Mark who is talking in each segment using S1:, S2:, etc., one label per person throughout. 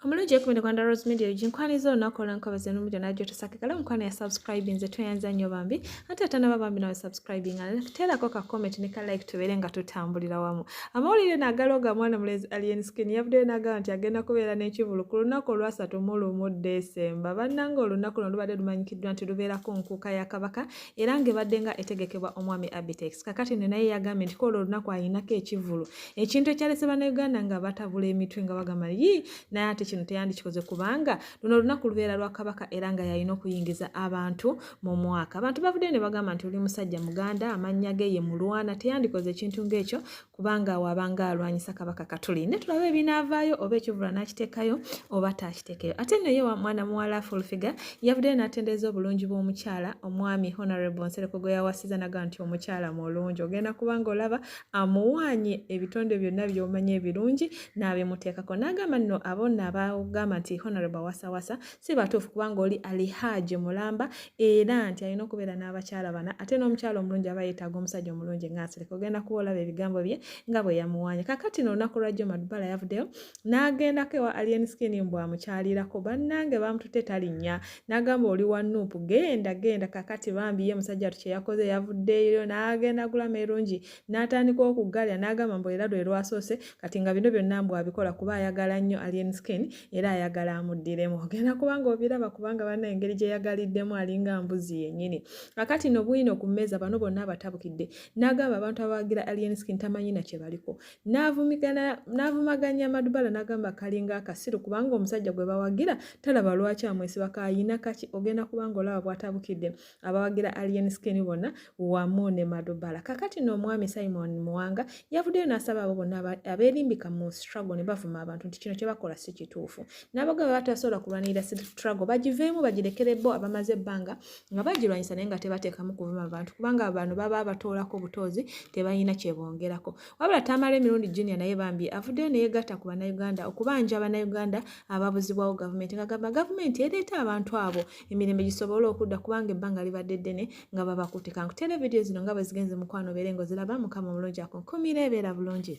S1: omulungi ekumide kwanda rose media egi nkwaniza olunaku olwenkobezo numulyo najo tosakikala omukwano ya subscribe nze tweyanza nnyo bambi ate atanaba bambi nawe subscribing teerako ka comment ne ka like tubeere nga tutambulira wamu amawulire nagala oga mwana mulezi alien skin yavuddeyo nagamba nti agenda kubeera n'ekivulu ku lunaku olwasatu mu lumu desemba bannanga olunaku luno lubadde lumanyikiddwa nti lubeerako nkuuka ya kabaka era ng'ebadde nga etegekebwa omwami abitex kakati ne naye yagambye nti koolwo olunaku ayinako ekivulu ekintu ekyalese bannayuganda nga batabula emitwe nga bagamba yi naye ate kino teyandikikoze kubanga luno olunaku lubeera lwa kabaka era nga yalina okuyingiza abantu mu mwaka abantu bavuddeyo ne bagamba nti oli musajja muganda amannya ge ye mulwana teyandikoze ekintu ng'ekyo kubanga waabanga alwanyisa kabaka katuli ne tulabe ebinaavaayo oba ekivula n'akiteekayo oba taakiteekeyo ate nno ye mwana muwala fulfiga yavuddeyo n'atendereza obulungi bw'omukyala omwami honorable nsereko gwe yawasiza naga nti omukyala mulungi ogenda kubanga olaba amuwaanye ebitonde byonna by'omanyi ebirungi n'abimuteekako n'agamba nno abo nno abagamba nti honorable wasawasa si batuufu kubanga oli alihaaji mulamba era nti alina okubeera n'abakyala bana ate n'omukyala omulungi aba yeetaaga omusajja omulungi ng'asereka ogenda kuba olaba ebigambo bye nga bwe yamuwaanye kakati no olunaku lwa jjo madubala yavuddeyo n'agendako ewa alien skin mbu amukyalirako bannange baamututte talinnya nagamba oli wa nup genda genda kakati bambi ye musajja watu kyeyakoze yavuddeyo nagenda gula merungi natandika okugalya nagamba mbu era lwe lwasoose kati nga bino byonna mbu abikola kuba ayagala nnyo alien skin era ayagala amuddiremu ogenda kubanga obiraba kubanga bana engeri gyeyagaliddemu alinga mbuzi yenyini kakati no bwino ku mmeeza bano bonna abatabukidde nagamba abantu abawagira alien skin tamanyi na kyebaliko n'avumaganya madubala n'agamba kalinga akasiru kubanga omusajja gwe bawagira talaba lwaki amwesiba kayina kaki ogenda kubanga olaba bwatabukidde abawagira alien skin bonna wamu ne madubala kakati n'omwami simon muwanga yavuddeyo n'asaba abo bonna abeerimbika mu struggle ne bavuma abantu nti kino kye bakola si kituufu n'abaga baba tasobola kulwanirira struggle bagiveemu bagirekere bo abamaze ebbanga nga bagirwanyisa naye nga tebateekamu kuvuma abantu kubanga abantu baba batoolako butoozi tebalina kyebongerako wabula tamala emirundi junior naye bambi avuddeyo neyegatta ku bannayuganda okubanja abannayuganda ababuzibwawo gavumenti ngagamba gavumenti ereeta abantu abo emirembe gisobole okudda kubanga ebbanga libadde ddene nga babakutte kankutera vidiyo zino nga bwezigenze mukwano obeere nga oziraba mukama omulungi akunkumira ebeera bulungi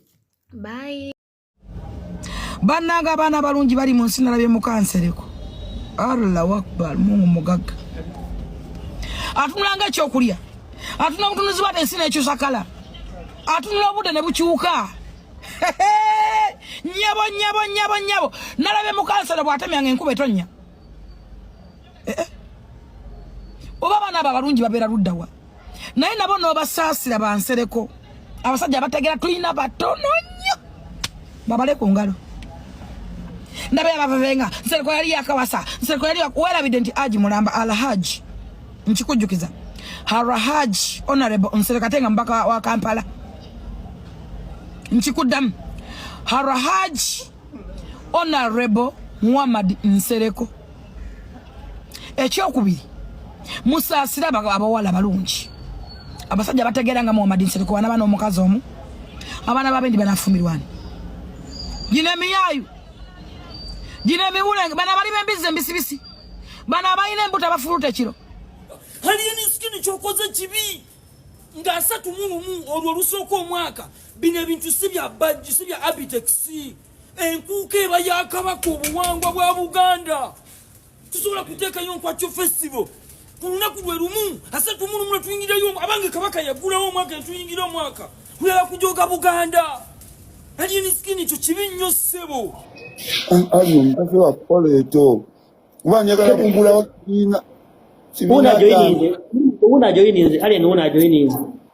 S1: bayi
S2: bannanga abaana abalungi bali mu nsi nalabye mukansereko allah wakbar mungu mugagga atunulanga ekyokulya atunula obutunuzi bwate ensi nekyusa kala atunula obudde ne bukyuka nyabo nyabo nyabo nyabo nalabye mukansero bwatemyanga enkuba etonya eh, eh. oba abaana abo abalungi babeera luddawa naye nabo n'obasaasira bansereko abasajja abategera tulina batono nnyo babale ku ngalo ndaba yabavevenga nsereko yali yakawasa nsereko yali werabidde nti aji mulamba alhaji nkikujjukiza harahaji honorable nsereko ate nga mubaka wa kampala nkikuddamu harahaji Honorable Muhammad Nsereko ekyokubiri musaasira abawala balungi abasajja bategeera nga Muhammad Nsereko wana bana omukazi omu abaana babendi banafumirwani gino emiyayu gino emiwulenge bana bali bembizi embisibisi bana abalina embuto abafuluta ekiro haliyo
S3: nisikini kyokoze kibi nga asatu mulumu olwo olusooka omwaka bino ebintu si bya bajji si bya abitexi enkuuka eba yakabaka obuwangwa bwa buganda tusobola kuteekayo nkwakyo festival ku lunaku lwe lumu asatumulumu lwe tuyingirayo abange kabaka yagulawo omwaka netuyingira omwaka kulala kujoga buganda alien skin ekyo kibi nnyo ssebo ali
S4: omukazi wakukola ekyo kuba njagala kugulawo kibiina unajoyininze
S5: unajoyininze alien unajoyininze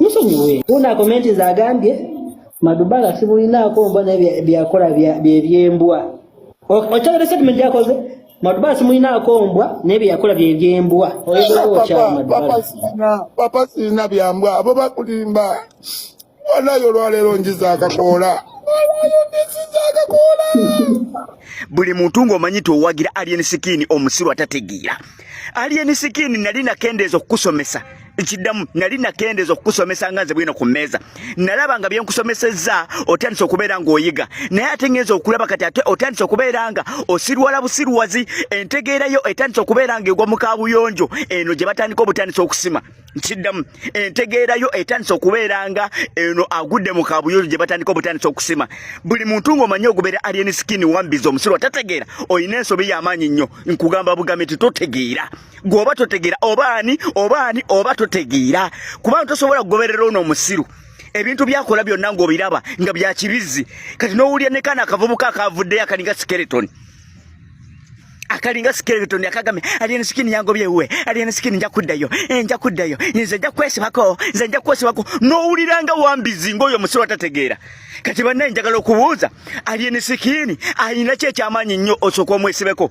S5: musonyiwe una komenti zagambye madubala sibulinaako mbwa naye byakola byebyembwa okyagala statement gyakoze madubala simulinaako mbwa naye byeyakola byebyembwa papa sirina
S4: byambwa abo bakulimba wanayo olwaleero njiza akakoola
S6: buli muntu ng'omanyi towagira alien sikini omusiru atategeera alien sikini nali nakendeeza okukusomesa ekiddamu nali nakendeeza okukusomesa nga nze bwino ku mmeeza nalaba nga byenkusomesezza otandise okubeera ng'oyiga naye ate ngenza okulaba kati ate otandise okubeera nga osirwala busirwazi entegeerayo etandise okubeera nga egwa mu kaabuyonjo eno gye batandika obutandisa okusima kiddamu entegeerayo etandise okubeera nga eno agudde mu kaabuyonjo gye batandika obutandisa okusima buli muntu ng'omanyi ogubeera alien skin wambiza omusirwa tategeera olina ensobi y'amaanyi nnyo nkugamba bugambe titotegeera gwe oba totegeera oba ani oba ani oba totegeera kubanga tosobola kugoberera ono omusiru ebintu byakola byonna ngaobiraba nga byakibizzi kati nowulira nekana akavubuka akavuddeyo akalinga skeleton akalinga skeleton akagambye alien skin yango byewe alien skin nja kuddayo eh, nja kuddayo nze nja kwesibako nze nja kwesibako nowulira nga wambizi ngaoyo omusiru atategeera kati bannaye njagala okubuuza alien skin ayina ki ekyamaanyi nnyo osooka omwesibeko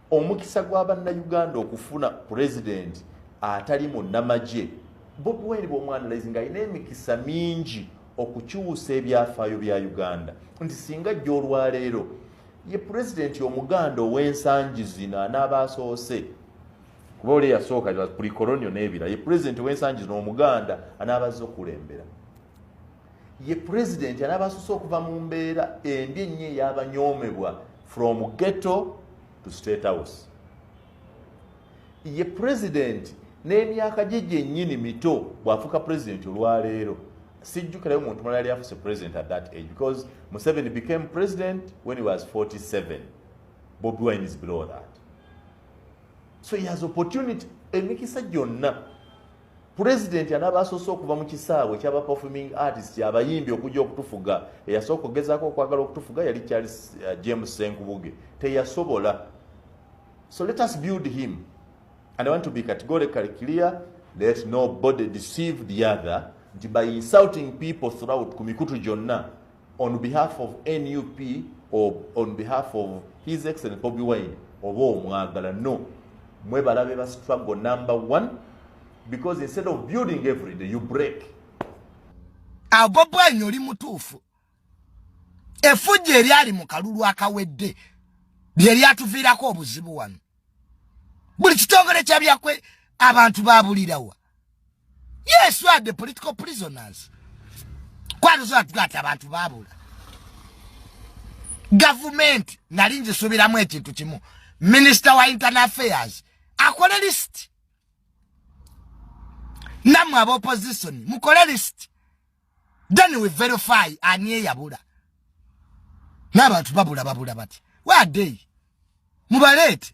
S7: omukisa gwa bannayuganda okufuna pulezidenti atali munnamagye bobi wine bwomwanalizi nga alina emikisa mingi okukyusa ebyafaayo bya uganda nti singa jja olwaleero ye pulezidenti omuganda ow'ensangi zino anaaba asoose kuba oli eyasooka kulikolonio n'ebira ye pulezidenti ow'ensangi zino omuganda anaaba azze okukulembera ye president anabasuse okuva mu mbeera embi ennyo eyabanyomebwa from ghetto to state house ye president n'emyaka gye gyennyini mito bw'afuuka president olwaleero sijjukirayo muntu mulala yali afuse president at that age because museveni became president when he was 47 bobi wine is below that so he has opportunity emikisa gyonna Pulezidenti anaaba asoose okuva mu kisaawe ekyaba performing artist abayimbi okujja okutufuga eyasooka okugezaako okwagala okutufuga yali charles uh, james senkubuge teyasobola so let us build him and i want to be categorically clear let nobody deceive the other nti by insulting people throughout ku mikutu gyonna on behalf of nup or on behalf of his excellent bobi wine oba omwagala no mwebalabe ba struggle number one because instead of building every day you break
S2: ago bwanyi oli mutuufu efujja eryali mu kalulu akawedde lye lyatuviirako obuzibu wano buli kitongole kyabyakwe abantu babulirawa yes you are the political prisoners kwatuzo atugata abantu babula government nali nzisubiramu ekintu kimu minister wa internal affairs akole list namwe aba opposition mukole list then we verify ani eyabula n'abantu babula babula bati where are they mubaleete